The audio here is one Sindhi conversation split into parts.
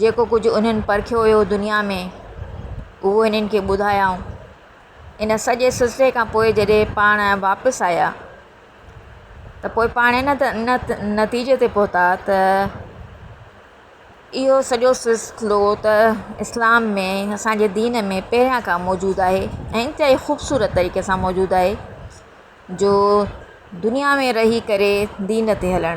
جيڪو ڪجهه انهن پرکيو هيو دنيا ۾ اهو هنن کي ٻڌايائون. ان سڄي سلسلي کان پوء جڏهن پاڻ واپس آيا ته پوء پاڻ ان نتيجي تي پهتا ته اهو سڄو سلسلو ته اسلام ۾ اسان جي دين ۾ پهريان کان موجود آهي ۽ انتهائي خوبصورت طريقي سان موجود آهي جو دنيا ۾ رهي ڪري دين تي هلڻ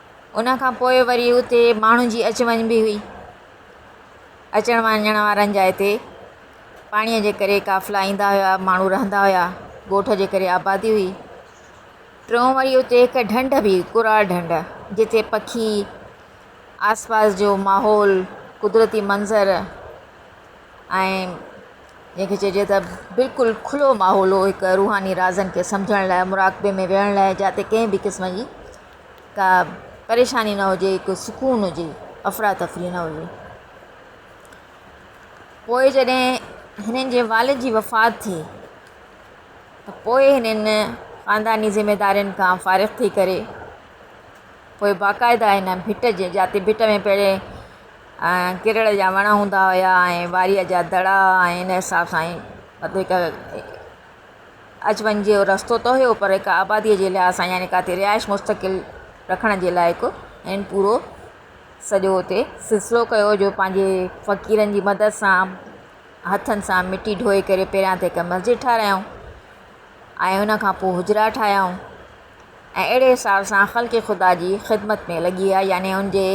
ان کان پوء وري اتي ماڻهن جي اچ وڃ به هئي. اچڻ وڃڻ وارن جا هتي پاڻيء جي ڪري قافلا ايندا هيا، ماڻهو رهندا هيا، ڳوٺ جي ڪري آبادي هئي. ٽيون وري اتي هڪ ڍنڍ به هئي، ڪراڙ ڍنڍ، جتي پکي، آس پاس جو ماحول، قدرتي منظر ۽ جنهن کي چئجي ته بلڪل کلو ماحول هو، هڪ روحاني رازن کي سمجهڻ لاء، مراقبي ۾ ويهڻ لاء جاتي ڪنهن به قسم جي ڪا پريشاني نه هجي، هڪ سڪون هجي، افراتفري نه هجي. پوء جڏهن هنن جي والد جي وفات ٿي ته پوء هنن خانداني ذميدارين کان فارغ ٿي ڪري پوء باقاعده هن ڀٽ جي جاتي ڀٽ ۾ پهرين ڪرڙ جا وڻ هوندا هيا ۽ واريء جا دڙا ۽ ان حساب سان هڪ اچ وڃ جو رستو ته هيو پر هڪ آباديء جي لحاظ سان يعني ڪاتي رهائش مستقل رکڻ جي لائق هن پورو سڄو اتي سلسلو ڪيو جو پنهنجي فقيرن جي مدد سان هٿن سان مٽي ڍوئي ڪري پهريان ته هڪ مسجد ٺاهرايائون ۽ ان کان پوء حجرا ٺاهيائون ۽ اهڙي حساب سان خلق خدا جي خدمت ۾ لڳي ويا يعني ان جي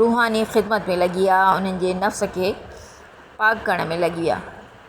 روحاني خدمت ۾ لڳي ويا انهن جي نفس کي پاڪ ڪرڻ ۾ لڳي ويا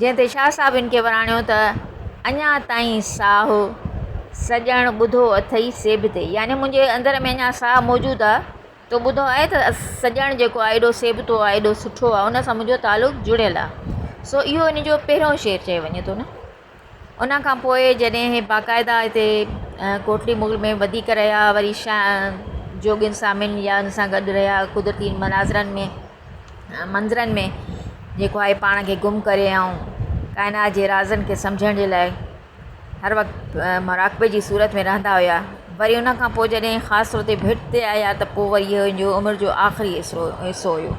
جنهن تي شاهه صاحب هن کي وراڻيو ته، اڃا تائين ساهه سڄڻ ٻڌو اٿئي سي به تي، يعني منهنجي اندر ۾ اڃا ساهه موجود آ، تو ٻڌو آهي ته سڄڻ جيڪو آ ايڏو سيبتو آ، ايڏو سٺو آ، ان سان منهنجو تعلق جڙيل آ. سو اهو هن جو پهريون شعر چيو وڃي ٿو نه. ان کان پوء جڏهن هي باقاعده هتي ڪوٽڙي مغل ۾ وڌيڪ رهيا وري شاهه جوڳين سامين يا ان سان گڏ رهيا قدرتي مناظرن ۾ منظرن ۾ جيڪو آهي پاڻ کي گم ڪري آئون ڪائنات جي رازن کي سمجهڻ جي لاء هر وقت مراقبي جي صورت ۾ رهندا هيا وري ان کان پوء جڏهن خاص طور تي ڀٽ تي آيا ته پوء وري هن جو عمر جو آخري حصو حصو هيو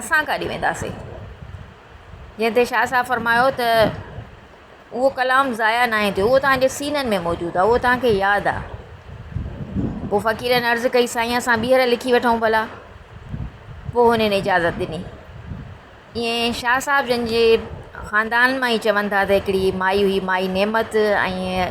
اسان ڪاڏي وينداسين؟ جنهن تي شاهه صاحب فرمايو ته اهو ڪلام ضايع ناهي ٿيو، اهو توهان جي سينن ۾ موجود آهي، اهو توهان کي ياد آهي. پوء فقيرن عرض ڪئي، سائين اسان ٻيهر لکي وٺون ڀلا. پوء هنن اجازت ڏني. ائين شاهه صاحب جن جي خاندان مان ئي چون ٿا ته هڪڙي مائي هئي مائي نعمت ۽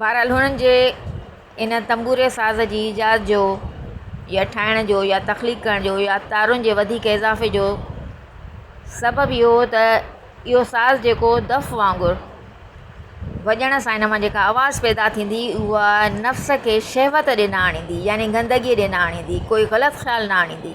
بهرحال هنن جي ان تنبوري ساز جي ايجاد جو يا ٺاهڻ جو يا تخليق ڪرڻ جو يا تارن جي وڌيڪ اضافي جو سبب اهو هو ته اهو ساز جيڪو دف وانگر وڄڻ سان ان مان جيڪا آواز پيدا ٿيندي هئي اها نفس کي شهوت ڏي نه آڻيندي يعني گندگي ڏي نه آڻيندي ڪوئي غلط خيال نه آڻيندي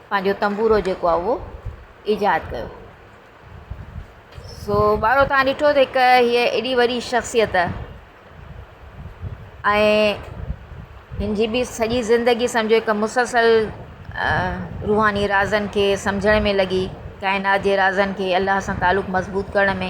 پنهنجو تنبورو جيڪو آهي اهو ايجاد ڪيو. سو ٻارو توهان ڏٺو ته هڪ هيء ايڏي وڏي شخصيت ۽ هن جي به سڄي زندگي سمجهو هڪ مسلسل روحاني رازن کي سمجهڻ ۾ لڳي ڪائنات جي رازن کي الله سان تعلق مضبوط ڪرڻ ۾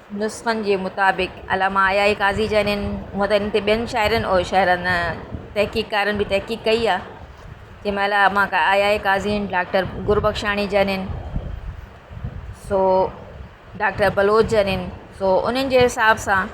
نسخن جي مطابق علامه عيائي قاضي جا انهن هونء ته انهن تي ٻين شاعرن اور شهرن تحقيقڪارن به تحقيق ڪئي آهي جنهن ۾ علامه عيائي قاضي ۽ ڊاڪٽر گربخشاڻي جا انهن سو ڊاڪٽر بلوچ جا انهن سو انهن جي حساب سان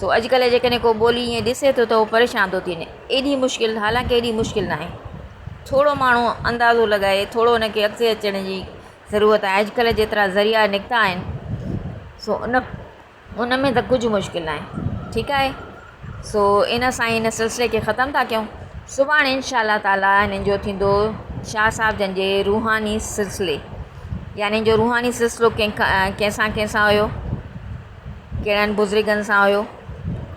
سو اڄڪلهه جيڪڏهن ڪو ٻولي ائين ڏسي ٿو ته هو پريشان ٿو ٿي وڃي. ايڏي مشڪل، حالانڪ ايڏي مشڪل ناهي. ٿورو ماڻهو اندازو لڳائي، ٿورو ان کي اڳتي اچڻ جي ضرورت آهي. اڄڪلهه جيترا ذريعا نڪتا آهن، سو ان ان ۾ ته ڪجهه مشڪل ناهي. ٺيڪ آهي. سو ان سان ئي ان سلسلي کي ختم ٿا ڪيون. سڀاڻي انشاء الله تعاليٰ هنن جو ٿيندو شاهه صاحب جن جي روحاني سلسلي. يعني هن جو روحاني سلسلو ڪنهن ڪنهن سان ڪنهن سان هيو. ڪهڙن بزرگن سان هيو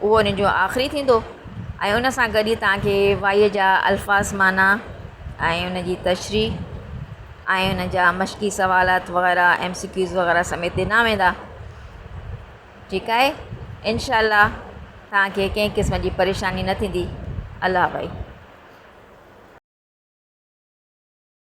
اهو ان جو آخري ٿيندو ۽ ان سان گڏ تان کي وائيء جا الفاظ معنيٰ ۽ ان جي تشريح ۽ ان جا مشقي سوالات وغيره ايم سي ڪيوز وغيره سميت ڏنا ويندا ٺيڪ آهي انشاء الله تان کي ڪنهن قسم جي پريشاني نه ٿيندي الله حافظ